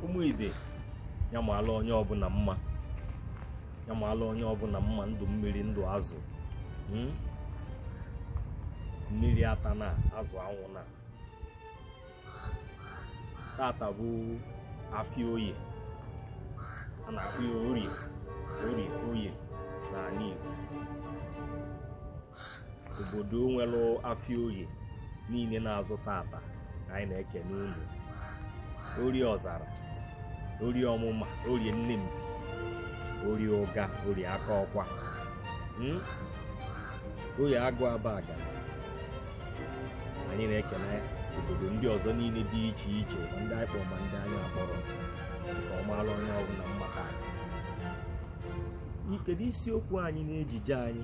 ụmụ ibe ya maala onye ọbụla mma ya maala onye ọbụla mma ndụ mmiri ndụ azụ hmm? mmiri atana azụ anwụna tata bụ afịa oye a na-akpọ ya orie orie oye n'ala Igbo obodo nwere afịa oye niile na-azụ tata anyị na-ekene unu orie ọzara orie ọmụma orie Nnempi orie ụga orie Akọkwa Hmm? oye agụ Abagana anyị na-ekene obodo ndị ọzọ niile dị iche iche ma ndị anyị kpọrọ ma ndị anyị akpọrọ ka ọ maara onye ọbụla mma taa. Kedu isiokwu anyị n'ejije anyị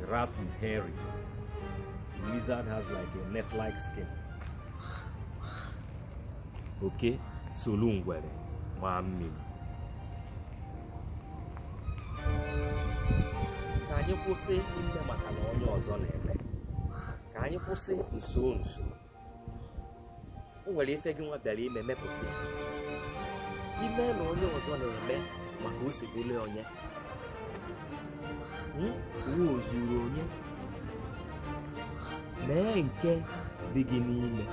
The rat is hairy. The lizard has like a net-like skin. Oke solu ngwere maa mmiri. Ka anyị kwụsị ime maka na onye ọzọ na-eme. Ka anyị kwụsị nso nso. o nwere ife gị nwa bịara ime mepụta ya ime na onye ọzọ na-eme maka o si dịrị onye Hmm? uwe ozuru onye mee nke dị gị n'ime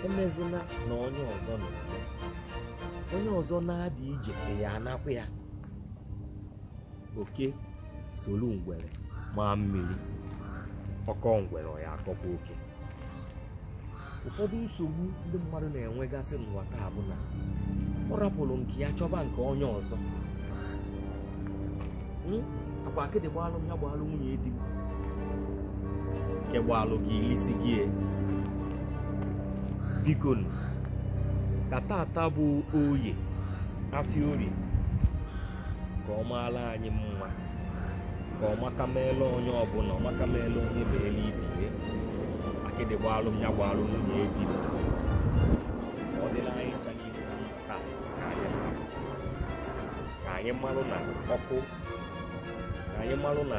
emezina na onye ọzọ na-eme onye ọzọ na-adị ije ya anakwa ya oke solu ngwere maa mmiri ọ kọọ ngwere ọ ya-akọkwa oke ụfọdụ nsogbu ndị mmadụ na-enwegasị n'ụwa taa bụ na ọ rapụrụ nke ya chọba nke onye ọzọ Hmm? akwa akịdị gbalụ m ya gbalụ nwunye di m nke gbalụ gị ilisi gị e. bikonụ, ka tata bụ oye afịa orie ka ọ maara anyị mma ka ọ maka meela onye ọbụla ọ maka meela onye meela ibe ihe akịdị gbaalụ m ya gbaalụ nwunye di m ọ dịla anyị ncha niile na mma taa ka anyị mara ka anyị malụ na ọkụ ka anyị malụ na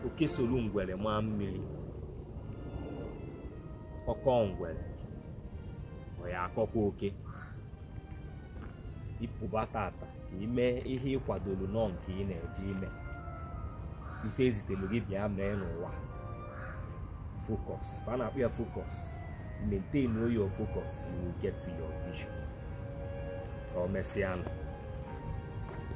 oke solu ngwere maa mmiri ọ kọọ ngwere ọ ya-akọkwa oke ị pụba tata ka ị mee ihe ị kwadoro nọ nke ị na-eje ime ife e zitelu gị bịa mee n'ụwa focus ka a na-akpọ ya focus maintain your focus you will get to your vision ka e mesịa nụ